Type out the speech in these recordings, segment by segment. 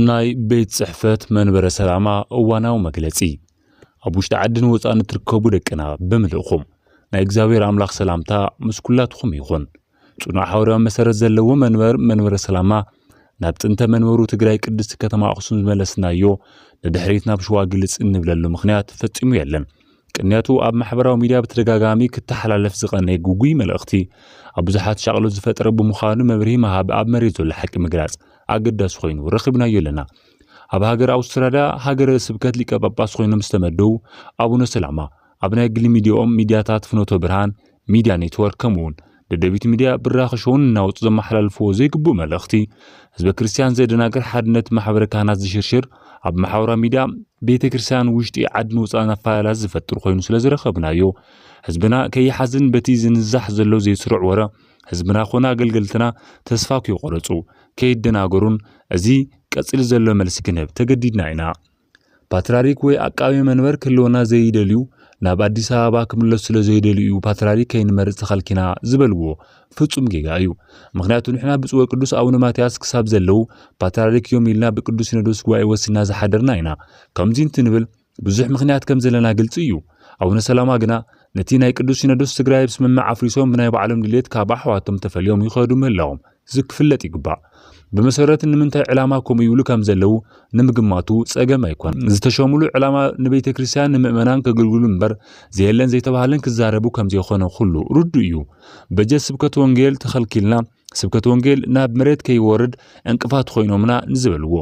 ናይ ቤት ጽሕፈት መንበረ ሰላማ እዋናዊ መግለጺ ኣብ ውሽጢ ዓድን ወፃእን እትርከቡ ደቅና ብምልእኹም ናይ እግዚኣብሔር ኣምላኽ ሰላምታ ምስ ኩላትኹም ይኹን። ጽኑዕ ሓዋርያዊ መሰረት ዘለዎ መንበር መንበረ ሰላማ ናብ ጥንተ መንበሩ ትግራይ ቅድስቲ ከተማ ኣኽሱም ዝመለስናዮ ንድሕሪት ናብ ሸዋ ግልጽ እንብለሉ ምኽንያት ፈጺሙ የለን። ቅንያቱ ኣብ ማሕበራዊ ሚድያ ብተደጋጋሚ ክተሓላለፍ ዝቐነየ ግጉይ መልእኽቲ ኣብ ብዙሓት ሻቕሎት ዝፈጠረ ብምዃኑ መብርሂ ምሃብ ኣብ መሬት ዘሎ ሓቂ ምግላጽ ኣገዳሲ ኮይኑ ረኺብናዮ ኣለና። ኣብ ሃገር ኣውስትራልያ ሃገረ ስብከት ሊቀ ጳጳስ ኮይኖም ዝተመደቡ ኣቡነ ሰላማ ኣብ ናይ ግሊ ሚዲያኦም ሚዲያታት ፍኖተ ብርሃን ሚድያ ኔትወርክ ከምኡውን ደደቢት ሚድያ ብራኸ ሾውን እናወፁ ዘመሓላልፍዎ ዘይግቡእ መልእኽቲ ህዝበ ክርስቲያን ዘደናግር ሓድነት ማሕበረ ካህናት ዝሽርሽር ኣብ ማሕበራዊ ሚድያ ቤተ ክርስቲያን ውሽጢ ዓድን ወፃእን ኣፈላላት ዝፈጥር ኮይኑ ስለ ዝረኸብናዮ ህዝብና ከይሓዝን በቲ ዝንዛሕ ዘሎ ዘይስሩዕ ወረ ህዝብና ኮነ ኣገልገልትና ተስፋ ክይቆረፁ ከይደናገሩን እዚ ቀፂሉ ዘሎ መልሲ ክንህብ ተገዲድና ኢና። ፓትራሪክ ወይ ኣቃቤ መንበር ክህልወና ዘይደልዩ ናብ ኣዲስ ኣበባ ክምለሱ ስለ ዘይደልዩ እዩ ፓትራሪክ ከይንመርፅ ተኸልኪና ዝበልዎ ፍፁም ጌጋ እዩ። ምክንያቱ ንሕና ብፁዕ ወቅዱስ ኣቡነ ማትያስ ክሳብ ዘለዉ ፓትራሪክ እዮም ኢልና ብቅዱስ ሲኖዶስ ጉባኤ ወሲንና ዝሓደርና ኢና። ከምዙይ እንትንብል ብዙሕ ምክንያት ከም ዘለና ግልፂ እዩ። ኣቡነ ሰላማ ግና ነቲ ናይ ቅዱስ ሲኖዶስ ትግራይ ብስምምዕ ኣፍሪሶም ብናይ ባዕሎም ድሌት ካብ ኣሕዋቶም ተፈልዮም ይኸዱ ምህላዎም እዚ ክፍለጥ ይግባእ። ብመሰረት ንምንታይ ዕላማ ከምኡ ይብሉ ከም ዘለዉ ንምግማቱ ጸገም ኣይኮን። ዝተሸሙሉ ዕላማ ንቤተ ክርስቲያን ንምእመናን ከገልግሉ እምበር ዘየለን ዘይተባህለን ክዛረቡ ከም ዘይኮነ ኩሉ ርዱእ እዩ። በጀት ስብከት ወንጌል ተኸልኪልና ስብከት ወንጌል ናብ መሬት ከይወርድ ዕንቅፋት ኮይኖምና ንዝበልዎ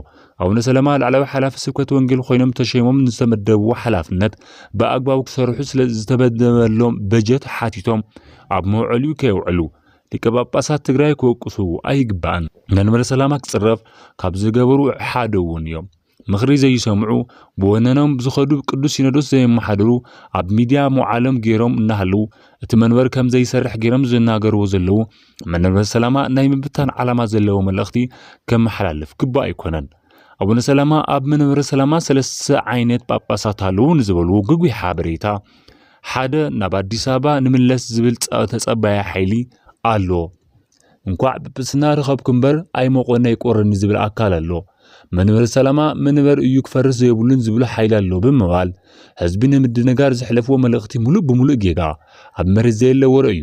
ኣቡነ ሰለማ ላዕለዊ ሓላፊ ስብከት ወንጌል ኮይኖም ተሸይሞም ንዝተመደብዎ ሓላፍነት ብኣግባቡ ክሰርሑ ስለ ዝተመደበሎም በጀት ሓቲቶም ኣብ መውዐሊኡ ከየውዕሉ ሊቀ ጳጳሳት ትግራይ ክወቅሱ ኣይግባእን። መንበረ ሰላማ ክጽረፍ ካብ ዝገበሩ ሓደ እውን እዮም። ምኽሪ ዘይሰምዑ፣ ብወነኖም ብዝኸዱ ቅዱስ ሲኖዶስ ዘየመሓድሩ፣ ኣብ ሚድያ መውዓሎም ገይሮም እናሃለዉ እቲ መንበር ከም ዘይሰርሕ ገይሮም ዝናገርዎ ዘለዉ መንበረ ሰላማ ናይ ምብታን ዓላማ ዘለዎ መልእኽቲ ከመሓላልፍ ግቡእ ኣይኮነን። ኣቡነ ሰላማ ኣብ መንበረ ሰላማ ሰለስተ ዓይነት ጳጳሳት ኣለዉ ንዝበልዎ ግጉይ ሓበሬታ ሓደ ናብ ኣዲስ ኣበባ ንምለስ ዝብል ተጸባያ ሓይሊ ኣሎ። እንኳዕ ጵጵስና ረኸብኩ እምበር ኣይመቆነ ይቆረኒ ዝብል ኣካል ኣሎ። መንበር ሰላማ መንበር እዩ ክፈርስ ዘይብሉን ዝብሉ ሓይሊ ኣሎ ብምባል ህዝቢ ንምድንጋር ዘሕለፍዎ መልእኽቲ ሙሉእ ብሙሉእ ጌጋ ኣብ መሬት ዘየለ ወረ እዩ።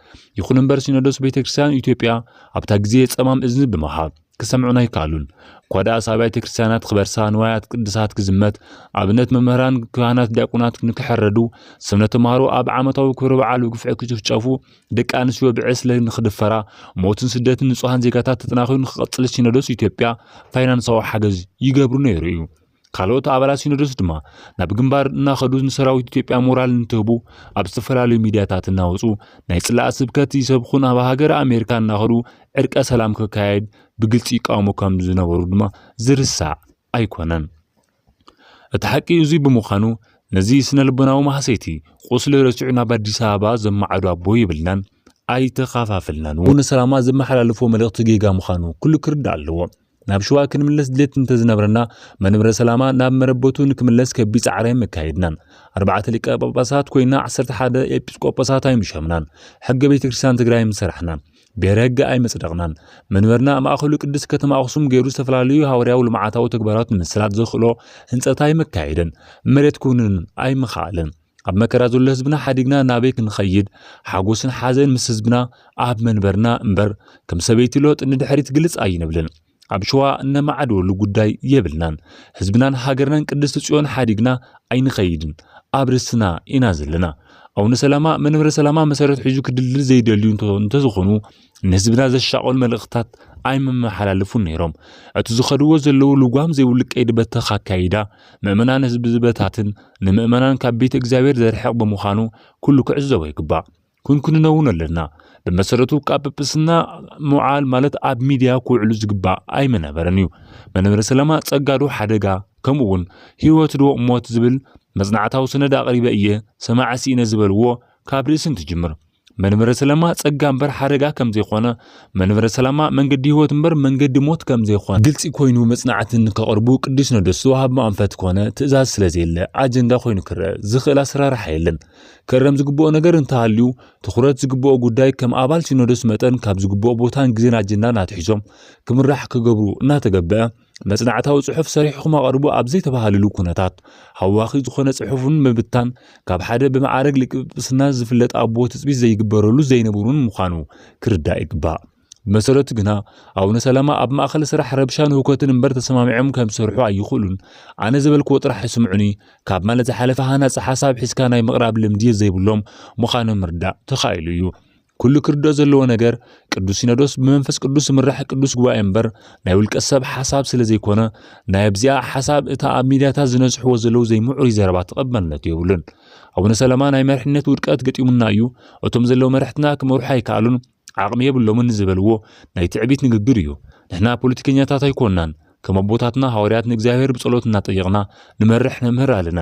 ይኹን እምበር ሲኖዶስ ቤተ ክርስቲያን ኢትዮጵያ ኣብታ ግዜ ጸማም እዝኒ ብምሃብ ክሰምዑን ኣይከኣሉን። እኳ ደኣስ ኣብያተ ክርስቲያናት ክበርሳ፣ ንዋያት ቅድሳት ክዝመት፣ ኣብነት መምህራን፣ ካህናት፣ ዲያቆናት ንክሕረዱ፣ ስምነ ተምሃሮ ኣብ ዓመታዊ ክብረ በዓል ብግፍዒ ክጭፍጨፉ፣ ደቂ ኣንስትዮ ብዕስለ ንክድፈራ፣ ሞትን ስደትን ንጹሃን ዜጋታት ተጠናኺሩ ንክቐጽል ሲኖዶስ ኢትዮጵያ ፋይናንሳዊ ሓገዝ ይገብሩ ነይሩ እዩ። ካልኦት ኣባላት ሲኖዶስ ድማ ናብ ግንባር እናኸዱ ንሰራዊት ኢትዮጵያ ሞራል እንትህቡ ኣብ ዝተፈላለዩ ሚዲያታት እናወፁ ናይ ፅላእ ስብከት ይሰብኹን ኣብ ሃገረ ኣሜሪካ እናኸዱ ዕርቀ ሰላም ክካየድ ብግልፂ ይቃወሙ ከም ዝነበሩ ድማ ዝርሳዕ ኣይኮነን። እቲ ሓቂ እዙይ ብምዃኑ ነዚ ስነ ልቦናዊ ማህሰይቲ ቁስሊ ረሲዑ ናብ ኣዲስ ኣበባ ዘማዓዱ ኣቦ የብልናን ኣይተኻፋፍልናን እውን ሰላማ ዘመሓላልፎ መልእኽቲ ጌጋ ምዃኑ ኩሉ ክርዳእ ኣለዎ። ናብ ሽዋ ክንምለስ ድሌት እንተዝነብረና መንብረ ሰላማ ናብ መረበቱ ንክምለስ ከቢድ ጻዕሪ መካየድናን ኣርባዕተ ሊቀ ጳጳሳት ኮይና ዓሰርተ ሓደ ኤጲስቆጶሳት ኣይምሸምናን ሕገ ቤተ ክርስቲያን ትግራይ ምሰራሕናን ብሔረ ሕገ ኣይመጽደቕናን መንበርና ማእኸሉ ቅድስት ከተማ ኣኽሱም ገይሩ ዝተፈላለዩ ሃዋርያዊ ልምዓታዊ ተግባራት ንምስላጥ ዘኽእሎ ህንፀት ኣይመካየደን መሬት ክውንን ኣይምኸኣለን ኣብ መከራ ዘሎ ህዝብና ሓዲግና ናበይ ክንኸይድ ሓጎስን ሓዘን ምስ ህዝብና ኣብ መንበርና እምበር ከም ሰበይቲ ሎጥ ንድሕሪት ግልጽ ኣይንብልን ኣብ ሸዋ እነማዕድወሉ ጉዳይ የብልናን ህዝብናን ሃገርናን ቅድስቲ ጽዮን ሓዲግና ኣይንኸይድን ኣብ ርስትና ኢና ዘለና ኣቡነ ሰላማ መንበረ ሰላማ መሰረት ሒዙ ክድልድል ዘይደልዩ እንተዝኾኑ ንህዝብና ዘሻቕል መልእኽትታት ኣይመመሓላልፉን ነይሮም። እቲ ዝኸድዎ ዘለዉ ልጓም ዘይብሉ ቀይዲ በተኽ ኣካይዳ ምእመናን ህዝቢ ዝበታትን ንምእመናን ካብ ቤተ እግዚኣብሔር ዘርሕቕ ብምዃኑ ኩሉ ክዕዘቦ ይግባእ። ኩንኩንኖ እውን ኣለና። ብመሰረቱ ካብ ጵጵስና ምውዓል ማለት ኣብ ሚድያ ክውዕሉ ዝግባእ ኣይምነበረን እዩ። መንበረ ሰላማ ጸጋዶ ሓደጋ ከምኡ እውን ህይወትዶ ሞት ዝብል መጽናዕታዊ ሰነድ ኣቕሪበ እየ ሰማዒ ስኢነ ዝበልዎ ካብ ርእሲ እንትጅምር መንበረ ሰላማ ጸጋ እምበር ሓደጋ ከም ዘይኮነ፣ መንበረ ሰላማ መንገዲ ህይወት እምበር መንገዲ ሞት ከም ዘይኮነ ግልጺ ኮይኑ መጽናዕቲ ንከቕርቡ ቅዱስ ሲኖዶስ ዝወሃቦም ኣንፈት ኮነ ትእዛዝ ስለ ዘየለ ኣጀንዳ ኮይኑ ክረአ ዝኽእል ኣሰራርሓ የለን። ክእረም ዝግብኦ ነገር እንተሃልዩ ትኹረት ዝግብኦ ጉዳይ ከም ኣባል ሲኖዶስ መጠን ካብ ዝግብኦ ቦታን ግዜን ኣጀንዳን ኣትሒዞም ክምራሕ ክገብሩ እናተገበአ መጽናዕታዊ ጽሑፍ ሰሪሕኹም ኣቐርቡ ኣብ ዘይተባህልሉ ኩነታት ሃዋኺ ዝኾነ ጽሑፍን ምብታን ካብ ሓደ ብመዓረግ ሊቀ ጵጵስና ዝፍለጥ ኣቦ ትጽቢት ዘይግበረሉ ዘይነብሩን ምዃኑ ክርዳእ ይግባእ። ብመሰረቱ ግና ኣቡነ ሰላማ ኣብ ማእኸል ስራሕ ረብሻን ህውከትን እምበር ተሰማሚዖም ከም ዝሰርሑ ኣይኽእሉን። ኣነ ዝበልክዎ ጥራሕ ይስምዑኒ ካብ ማለት ዝሓለፈ ሃናጺ ሓሳብ ሒዝካ ናይ ምቕራብ ልምዲ ዘይብሎም ምዃኖም ምርዳእ ተኻኢሉ እዩ። ኩሉ ክርድኦ ዘለዎ ነገር ቅዱስ ሲኖዶስ ብመንፈስ ቅዱስ ዝምራሕ ቅዱስ ጉባኤ እምበር ናይ ውልቀ ሰብ ሓሳብ ስለ ዘይኮነ ናይ ኣብዚኣ ሓሳብ እታ ኣብ ሚድያታት ዝነዝሕዎ ዘለዉ ዘይምዑሩይ ዘረባ ተቐባልነት የብሉን። ኣቡነ ሰለማ ናይ መሪሕነት ውድቀት ገጢሙና እዩ፣ እቶም ዘለዉ መራሕትና ክመርሑ ኣይከኣሉን፣ ዓቕሚ የብሎምን ዝበልዎ ናይ ትዕቢት ንግግር እዩ። ንሕና ፖለቲከኛታት ኣይኮናን። ከም ኣቦታትና ሃዋርያት ንእግዚኣብሔር ብጸሎት እናጠየቕና ንመርሕ ነምህር ኣለና።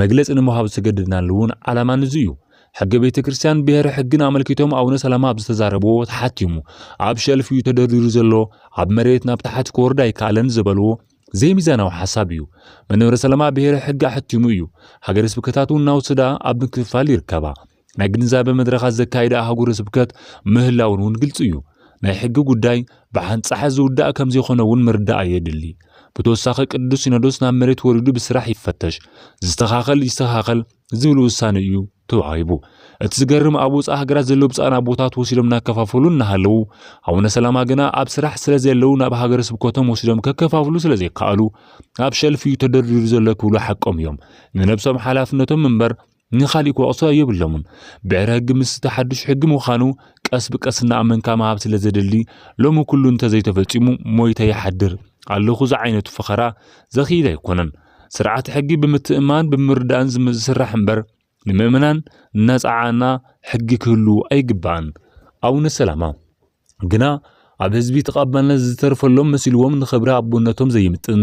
መግለጺ ንምሃብ ዝተገደድናሉ እውን ዓላማ ንዙ እዩ። ሕገ ቤተ ክርስቲያን ብሔረ ሕግን ኣመልኪቶም ኣቡነ ሰላማ ኣብ ዝተዛረብዎ ተሓቲሙ ኣብ ሸልፍ እዩ ተደርዲሩ ዘሎ ኣብ መሬት ናብ ታሕቲ ክወርድ ኣይከኣለን ዝበልዎ ዘይሚዛናዊ ሓሳብ እዩ። መንበረ ሰላማ ብሔረ ሕግ ኣሕቲሙ እዩ። ሃገረ ስብከታት እውን እናወሰዳ ኣብ ምክፍፋል ይርከባ። ናይ ግንዛበ መድረኻት ዘካይደ ኣህጉረ ስብከት ምህላውን እውን ግልፂ እዩ። ናይ ሕጊ ጉዳይ ብሓንጻሕ ዝውዳእ ከም ዘይኮነ እውን ምርዳእ የድሊ። ብተወሳኺ ቅዱስ ሲኖዶስ ናብ መሬት ወሪዱ ብስራሕ ይፈተሽ፣ ዝስተኻኸል ይስተኻኸል ዝብል ውሳነ እዩ ተዋሂቡ። እቲ ዝገርም ኣብ ወፃኢ ሃገራት ዘለዉ ብፃን ኣቦታት ወሲዶም እናከፋፈሉ እናሃለዉ ኣቡነ ሰላማ ግና ኣብ ስራሕ ስለ ዘለዉ ናብ ሃገረ ስብከቶም ወሲዶም ከከፋፍሉ ስለ ዘይከኣሉ ኣብ ሸልፍ እዩ ተደርዲሩ ዘሎ ክብሉ ሓቆም እዮም። ንነብሶም ሓላፍነቶም እምበር ንኻሊእ ክወቕሶ የብሎምን። ብዕረ ህግ ምስቲ ሓዱሽ ሕጊ ምዃኑ ቀስ ብቀስ እናኣመንካ ምሃብ ስለ ዘድሊ ሎሚ ኩሉ እንተዘይተፈጺሙ ሞይተ ይሓድር ኣለኹ ዝዓይነቱ ፈኸራ ዘኽይድ ኣይኮነን። ስርዓተ ሕጊ ብምትእምማን ብምርዳእን ዝስራሕ እምበር ንምእመናን እናጸዓና ሕጊ ክህሉ ኣይግባእን። ኣቡነ ሰላማ። ግና ኣብ ህዝቢ ተቐባልነት ዝተርፈሎም መሲልዎም ንኽብሪ ኣቦነቶም ዘይምጥን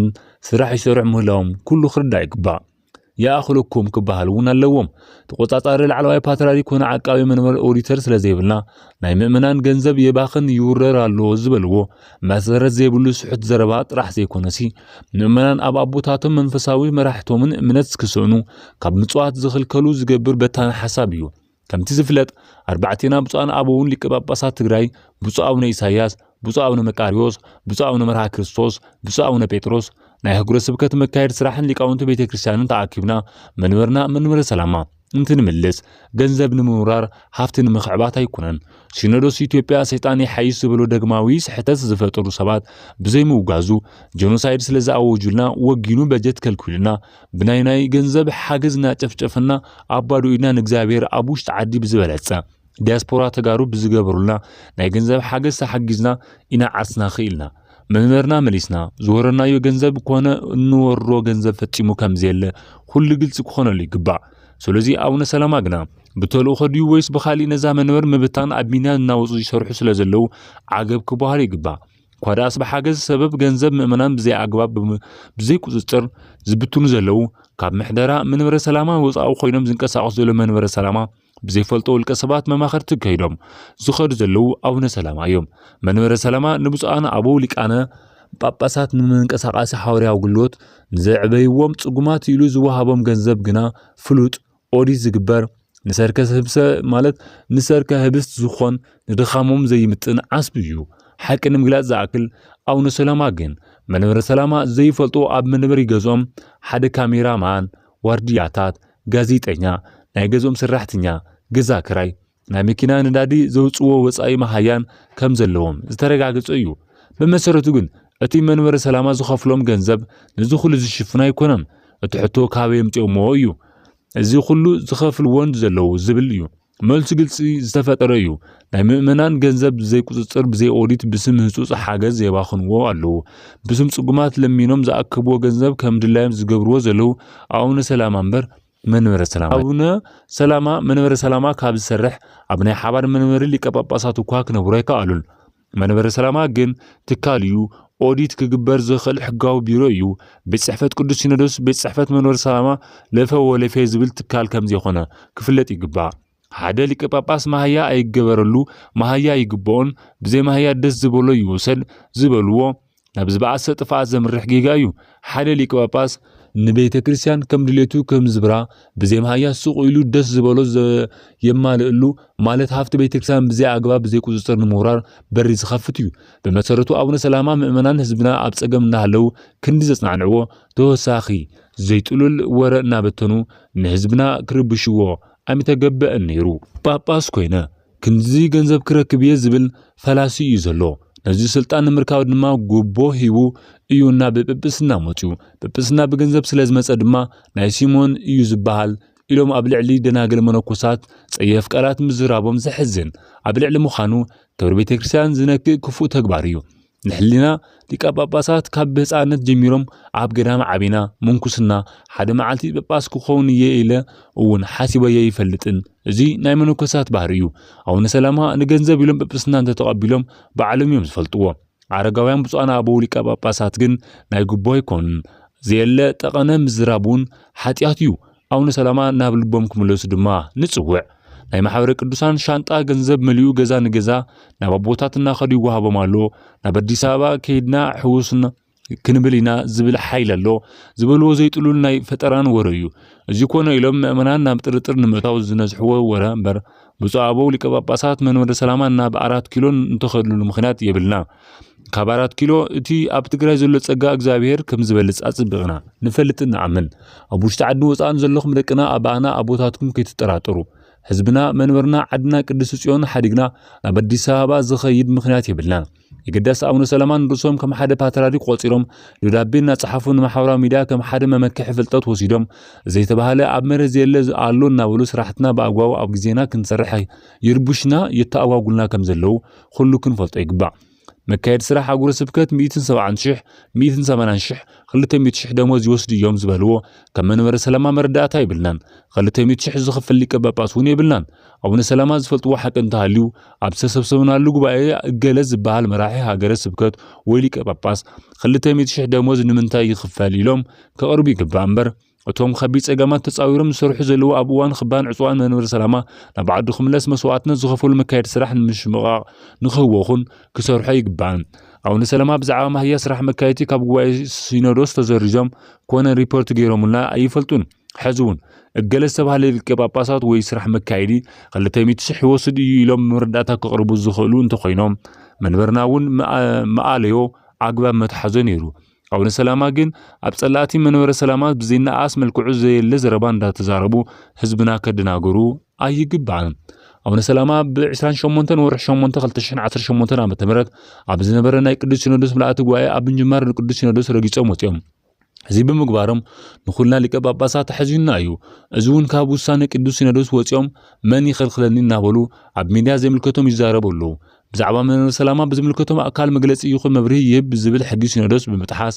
ስራሕ ይሰርሑ ምህላዎም ኩሉ ክርዳእ ይግባእ። ይኣኽለኩም ክበሃል እውን ኣለዎም። ተቆጻጻሪ ላዕለዋይ ፓትርያርክ ኮነ ዓቃቢ መንበር ኦዲተር ስለ ዘይብልና ናይ ምእመናን ገንዘብ የባኽን ይውረር ኣሎ ዝበልዎ መሰረት ዘይብሉ ስሑት ዘረባ ጥራሕ ዘይኮነሲ ምእመናን ኣብ ኣቦታቶም መንፈሳዊ መራሕቶምን እምነት ክስእኑ ካብ ምጽዋት ዝኽልከሉ ዝገብር በታኒ ሓሳብ እዩ። ከምቲ ዝፍለጥ ኣርባዕቴና ብፁዓን ኣበውን ሊቀ ጳጳሳት ትግራይ ብፁዕ ኣቡነ ኢሳያስ፣ ብፁዕ ኣቡነ መቃሪዎስ፣ ብፁዕ ኣቡነ መርሃ ክርስቶስ፣ ብፁዕ ኣቡነ ጴጥሮስ ናይ ህጉረ ስብከት መካየድ ስራሕን ሊቃውንቲ ቤተ ክርስቲያንን ተኣኪብና መንበርና መንበረ ሰላማ እንትንምልስ ገንዘብ ንምውራር ሃፍቲ ንምኽዕባት ኣይኮነን። ሲኖዶስ ኢትዮጵያ ሰይጣን ይሓይሽ ዝበሎ ደግማዊ ስሕተት ዝፈጠሩ ሰባት ብዘይምውጋዙ ጀኖሳይድ ስለዝኣወጁልና ወጊኑ በጀት ከልኪሉና ብናይ ናይ ገንዘብ ሓገዝ እናጨፍጨፈና ኣብ ባዶ ኢድና ንእግዚኣብሔር ኣብ ውሽጢ ዓዲ ብዝበለጸ ዲያስፖራ ተጋሩ ብዝገበሩልና ናይ ገንዘብ ሓገዝ ተሓጊዝና ኢና ዓርስና ክኢልና መንበርና መሊስና ዝወረናዮ ገንዘብ ኮነ እንወርሮ ገንዘብ ፈጺሙ ከምዘየለ ኩሉ ግልጺ ክኾነሉ ይግባእ ስለዚ ኣቡነ ሰላማ ግና ብተልእኾ ድዩ ወይስ ብኻሊእ ነዛ መንበር ምብታን ኣብ ቢንያ እናወጹ ይሰርሑ ስለዘለዉ ዓገብ ክበሃሉ ይግባእ እኳ ደኣስ ብሓገዝ ሰበብ ገንዘብ ምእመናን ብዘይ ኣግባብ ብዘይ ቁፅፅር ዝብትኑ ዘለዉ ካብ ምሕደራ መንበረ ሰላማ ወፃኢ ኮይኖም ዝንቀሳቐሱ ዘለዉ መንበረ ሰላማ ብዘይፈልጦ ውልቀ ሰባት መማኸርቲ ከይዶም ዝኸዱ ዘለዉ ኣቡነ ሰላማ እዮም። መንበረ ሰላማ ንብፁዓን ኣበው ሊቃነ ጳጳሳት ንመንቀሳቓሲ ሓዋርያዊ ኣገልግሎት ንዘዕበይዎም ጽጉማት ኢሉ ዝወሃቦም ገንዘብ ግና ፍሉጥ ኦዲት ዝግበር ንሰርከ ህብሰ ማለት ንሰርከ ህብስት ዝኾን ንድኻሞም ዘይምጥን ዓስቢ እዩ። ሓቂ ንምግላጽ ዝኣክል ኣቡነ ሰላማ ግን መንበረ ሰላማ ዘይፈልጡ ኣብ መንበሪ ገዝኦም ሓደ ካሜራ ማን፣ ዋርድያታት፣ ጋዜጠኛ፣ ናይ ገዝኦም ሰራሕተኛ፣ ገዛ ክራይ፣ ናይ መኪና ነዳዲ ዘውፅዎ ወፃኢ መሃያን ከም ዘለዎም ዝተረጋገፀ እዩ። ብመሰረቱ ግን እቲ መንበረ ሰላማ ዝኸፍሎም ገንዘብ ነዚ ኩሉ ዝሽፍን ኣይኮነን። እቲ ሕቶ ካበይ የምፅኦሞ እዩ እዚ ኩሉ ዝኸፍልዎን ዘለዉ ዝብል እዩ። መልሱ ግልፂ ዝተፈጠረ እዩ። ናይ ምእመናን ገንዘብ ብዘይ ቁፅፅር ብዘይ ኦዲት ብስም ህፁፅ ሓገዝ የባኽንዎ ኣለዉ። ብስም ፅጉማት ለሚኖም ዝኣከብዎ ገንዘብ ከም ድላዮም ዝገብርዎ ዘለዉ ኣቡነ ሰላማ እምበር መንበረ ሰላማ ኣቡነ ሰላማ መንበረ ሰላማ ካብ ዝሰርሕ ኣብ ናይ ሓባር መንበሪ ሊቀ ጳጳሳት እኳ ክነብሩ ኣይከኣሉን። መንበረ ሰላማ ግን ትካል እዩ፣ ኦዲት ክግበር ዝኽእል ሕጋዊ ቢሮ እዩ። ቤት ጽሕፈት ቅዱስ ሲኖዶስ ቤት ጽሕፈት መንበረ ሰላማ ለፈ ወለፌ ዝብል ትካል ከም ዘይኮነ ክፍለጥ ይግባእ። ሓደ ሊቀ ጳጳስ ማህያ ኣይገበረሉ፣ ማህያ ኣይግብኦን፣ ብዘይ ማህያ ደስ ዝበሎ ይውሰድ ዝበልዎ ናብ ዝበኣሰ ጥፍኣት ዘምርሕ ጌጋ እዩ። ሓደ ሊቀ ጳጳስ ንቤተ ክርስቲያን ከም ድሌቱ ከም ዝብራ ብዘይ ማህያ ሱቕ ኢሉ ደስ ዝበሎ የማልእሉ ማለት ሃፍቲ ቤተ ክርስቲያን ብዘይ ኣግባብ ብዘይ ቁፅፅር ንምውራር በሪ ዝኸፍት እዩ። ብመሰረቱ ኣቡነ ሰላማ ምእመናን ህዝብና ኣብ ፀገም እናሃለው ክንዲ ዘፅናንዕዎ ተወሳኺ ዘይጥሉል ወረ እናበተኑ ንህዝብና ክርብሽዎ ኣይምተገበእን ነይሩ። ጳጳስ ኮይነ ክንድዚ ገንዘብ ክረክብ እየ ዝብል ፈላሲ እዩ ዘሎ። ነዚ ስልጣን ንምርካብ ድማ ጉቦ ሂቡ እዩ ናብ ጵጵስና መፅዩ። ጵጵስና ብገንዘብ ስለ ዝመፀ ድማ ናይ ሲሞን እዩ ዝበሃል ኢሎም ኣብ ልዕሊ ደናግል መነኮሳት ፀየፍ ቃላት ምዝራቦም ዘሕዝን ኣብ ልዕሊ ምዃኑ ክብሪ ቤተክርስትያን ዝነክእ ክፉእ ተግባር እዩ። ንሕሊና ሊቃ ጳጳሳት ካብ ብህፃነት ጀሚሮም ኣብ ገዳም ዓቢና ምንኩስና ሓደ መዓልቲ ጳጳስ ክኸውን እየ ኢለ እውን ሓሲበዮ ኣይፈልጥን። እዚ ናይ መነኮሳት ባህሪ እዩ። ኣቡነ ሰላማ ንገንዘብ ኢሎም ጵጵስና እንተተቐቢሎም ባዕሎም እዮም ዝፈልጥዎ። ኣረጋውያን ብፁዓን ኣበው ሊቃ ጳጳሳት ግን ናይ ግቦ ኣይኮኑን። ዘየለ ጠቐነ ምዝራብ እውን ሓጢኣት እዩ። ኣውነ ሰላማ ናብ ልቦም ክምለሱ ድማ ንጽውዕ። ናይ ማሕበረ ቅዱሳን ሻንጣ ገንዘብ መሊኡ ገዛ ንገዛ ናብ ኣቦታት እናኸዱ ይወሃቦም ኣሎ። ናብ ኣዲስ ኣበባ ከይድና ሕውስና ክንብል ኢና ዝብል ሓይሊ ኣሎ። ዝበልዎ ዘይጥሉል ናይ ፈጠራን ወረ እዩ። እዚ ኮነ ኢሎም ምእመናን ናብ ጥርጥር ንምእታው ዝነዝሕዎ ወረ እምበር ብፁዕ ኣበው ሊቀ ጳጳሳት መንበረ ሰላማ ናብ ኣራት ኪሎን እንተኸድሉሉ ምክንያት የብልና። ካብ ኣራት ኪሎ እቲ ኣብ ትግራይ ዘሎ ጸጋ እግዚኣብሔር ከም ዝበልጽ ኣጽብቕና ንፈልጥ ንኣምን ኣብ ውሽጢ ዓዲ ወፃእን ዘለኹም ደቅና ኣባኣና ኣቦታትኩም ከይትጠራጠሩ ህዝብና መንበርና ዓድና ቅድስቲ ጽዮን ሓዲግና ናብ ኣዲስ ኣበባ ዝኸይድ ምክንያት የብልናን የገዳስ ኣቡነ ሰላማን ርእሶም ከም ሓደ ፓትርያርክ ቆጺሮም ደብዳቤ እናጸሓፉ ንማሕበራዊ ሚድያ ከም ሓደ መመክሒ ፍልጠት ወሲዶም ዘይተባህለ ኣብ መሬት ዘየለ ኣሎ እናበሉ ስራሕትና ብኣግባቡ ኣብ ግዜና ክንሰርሕ ይርቡሽና የተኣጓጉልና ከም ዘለዉ ኹሉ ክንፈልጦ ይግባእ። መካየዲ ስራሕ ኣህጉረ ስብከት ሚእትን ሰብዓን ሽሕ፣ ሚእትን ሰማንያን ሽሕ፣ ክልተ ሚእቲ ሽሕ ደሞዝ ይወስዱ እዮም ዝበልዎ ከም መንበረ ሰላማ መረዳእታ የብልናን። ክልተ ሚእቲ ሽሕ ዝኽፍል ሊቀ ጳጳስ እውን የብልናን። ኣቡነ ሰላማ ዝፈልጥዎ ሓቂ እንተሃልዩ ኣብ ዝተሰብሰብናሉ ጉባኤ እገለ ዝበሃል መራሒ ሃገረ ስብከት ወይ ሊቀ ጳጳስ ክልተ ሚእቲ ሽሕ ደሞዝ ንምንታይ ይኽፈል ኢሎም ከቕርቡ ይግባእ እምበር እቶም ከቢድ ጸገማት ተጻዊሮም ዝሰርሑ ዘለዉ ኣብ እዋን ክባን ዕጽዋን መንበሪ ሰላማ ናብ ዓዱ ክምለስ መስዋእትነት ዝኸፈሉ መካየዲ ስራሕ ንምሽምቓቕ ንክህወኹን ክሰርሖ ይግባእን። ኣቡነ ሰላማ ብዛዕባ ማህያ ስራሕ መካየቲ ካብ ጉባኤ ሲኖዶስ ተሰሪዞም ኮነ ሪፖርት ገይሮሙልና ኣይፈልጡን። ሕዚ እውን እገለ ዝተባህለ ሊቀ ጳጳሳት ወይ ስራሕ መካየዲ ክልተ ሚእቲ ሽሕ ይወስድ እዩ ኢሎም መረዳእታ ከቕርቡ ዝኽእሉ እንተኾይኖም መንበርና እውን ምኣለዮ ኣግባብ መትሓዞ ነይሩ። ኣቡነ ሰላማ ግን ኣብ ጸላእቲ መንበረ ሰላማ ብዘይነኣስ መልክዑ ዘየለ ዘረባ እንዳተዛረቡ ህዝብና ከደናገሩ ኣይግባእን። ኣቡነ ሰላማ ብ28 ወርሒ 8 2018 ዓ ም ኣብ ዝነበረ ናይ ቅዱስ ሲኖዶስ ምልኣቲ ጉባኤ ኣብ ምጅማር ንቅዱስ ሲኖዶስ ረጊጾም ወፂኦም እዚ ብምግባሮም ንኹልና ሊቀ ጳጳሳት ኣሕዚኑና እዩ እዚ እውን ካብ ውሳነ ቅዱስ ሲኖዶስ ወፂኦም መን ይኸልክለኒ እናበሉ ኣብ ሚድያ ዘይምልከቶም ይዛረቡ ኣለዉ ብዛዕባ መንበረ ሰላማ ብዝምልከቶም ኣካል መግለጺ ይኹን መብርሂ ይህብ ብዝብል ሕጊ ሲኖዶስ ብምጥሓስ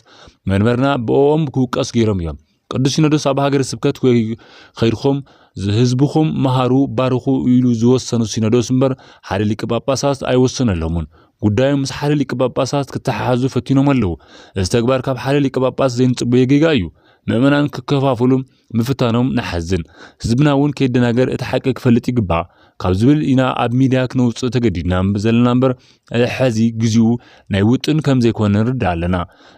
መንበርና ብኦም ክውቀስ ገይሮም እዮም። ቅዱስ ሲኖዶስ ኣብ ሃገረ ስብከት ወይ ኸይድኹም ህዝብኹም መሃሩ ባርኹ ኢሉ ዝወሰኑ ሲኖዶስ እምበር ሓደ ሊቀ ጳጳሳት ኣይወሰነሎምን። ጉዳዮም ምስ ሓደ ሊቀ ጳጳሳት ክተሓሓዙ ፈቲኖም ኣለዉ። እዚ ተግባር ካብ ሓደ ሊቀ ጳጳስ ዘይንጽበዮ ጌጋ እዩ። ምእመናን ክከፋፍሉ ምፍታኖም ንሓዝን። ህዝብና እውን ከይደናገር እቲ ሓቂ ክፈልጥ ይግባእ ካብ ዝብል ኢና ኣብ ሚድያ ክነውፅእ ተገዲድና ዘለና እምበር ሕዚ ግዚኡ ናይ ውጥን ከም ዘይኮነ ንርዳእ ኣለና።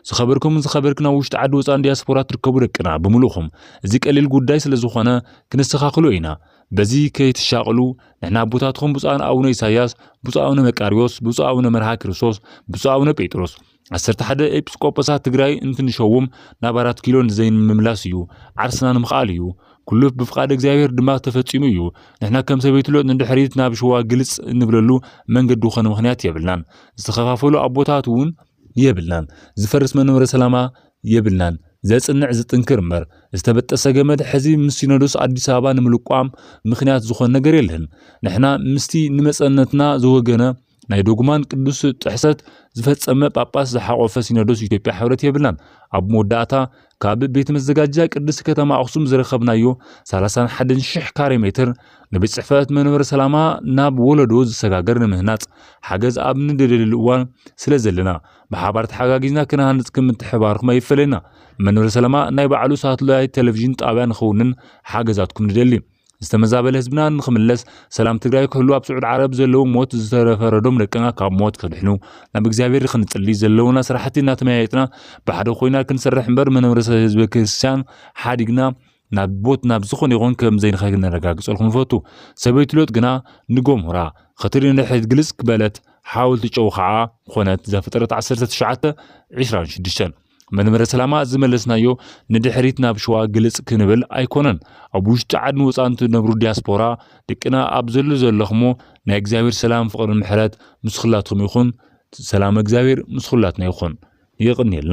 ዝኸበርኩምን ዝኸበርክን ኣብ ውሽጢ ዓዲ ወፃእን ዲያስፖራ ትርከቡ ደቅና ብምሉእኹም እዚ ቀሊል ጉዳይ ስለዝኾነ ክነስተኻኽሎ ኢና። በዚ ከይትሻቐሉ ንሕና ኣቦታትኹም ብፁዓን ኣቡነ ኢሳያስ፣ ብፁዕ ኣቡነ መቃርዮስ፣ ብፁዕ ኣቡነ መርሃ ክርስቶስ፣ ብፁዕ ኣቡነ ጴጥሮስ፣ ዓሰርተ ሓደ ኤጲስቆጶሳት ትግራይ እንትንሸውም ናብ ኣራት ኪሎ ንዘይንምምላስ እዩ፣ ዓርስና ንምኽኣል እዩ። ኩሉ ብፍቓድ እግዚኣብሔር ድማ ተፈጺሙ እዩ። ንሕና ከም ሰበይቲ ሎጥ ንድሕሪት ናብ ሽዋ ግልጽ እንብለሉ መንገዲ ኮነ ምኽንያት የብልናን። ዝተኸፋፈሉ ኣቦታት እውን የብልናን። ዝፈርስ መንበረ ሰላማ የብልናን። ዘጽንዕ ዝጥንክር እምበር ዝተበጠሰ ገመድ ሕዚ ምስ ሲኖዶስ ኣዲስ ኣበባ ንምልቋም ምኽንያት ዝኾን ነገር የለን። ንሕና ምስቲ ንመጸነትና ዝወገነ ናይ ዶግማን ቅዱስ ጥሕሰት ዝፈጸመ ጳጳስ ዝሓቖፈ ሲኖዶስ ኢትዮጵያ ሕብረት የብላን። ኣብ መወዳእታ ካብ ቤት መዘጋጃ ቅድስት ከተማ ኣኽሱም ዝረኸብናዮ 31 ሽሕ ካሬ ሜትር ንቤት ጽሕፈት መንበረ ሰላማ ናብ ወለዶ ዝሰጋገር ንምህናጽ ሓገዝ ኣብ ንደልየሉ እዋን ስለ ዘለና ብሓባር ተሓጋጊዝና ክነሃንጽ ክም ምትሕባርኩም ኣይፈለየና። መንበረ ሰላማ ናይ ባዕሉ ሳትላይት ቴሌቪዥን ጣብያ ንኸውንን ሓገዛትኩም ንደሊ። ዝተመዛበለ ህዝብና ንክምለስ ሰላም ትግራይ ክህሉ ኣብ ስዑድ ዓረብ ዘለዉ ሞት ዝተፈረዶም ደቅና ካብ ሞት ክድሕኑ ናብ እግዚኣብሔር ክንጽሊ ዘለውና ስራሕቲ እናተመያየጥና ብሓደ ኮይና ክንሰርሕ እምበር መነብረሰ ህዝበ ክርስቲያን ሓዲግና ናብ ቦት ናብ ዝኾነ ይኹን ከም ዘይንኸ ነረጋግጸልኩም ንፈቱ ሰበይቲ ሎጥ ግና ንጎምሁራ ኸትሪ ንድሕሪት ግልጽ ክበለት ሓወልቲ ጨው ከዓ ኮነት ዘፍጥረት 19 26 መንበረ ሰላማ ዝመለስናዮ ንድሕሪት ናብ ሸዋ ግልጽ ክንብል ኣይኮነን። ኣብ ውሽጢ ዓድን ወፃን ትነብሩ ዲያስፖራ ድቅና ኣብ ዘሉ ዘለኽሞ ናይ እግዚኣብሔር ሰላም ፍቅርን ምሕረት ምስ ኹላትኹም ይኹን ሰላመ እግዚኣብሔር ምስ ኹላትና ይኹን። የቅንየልና።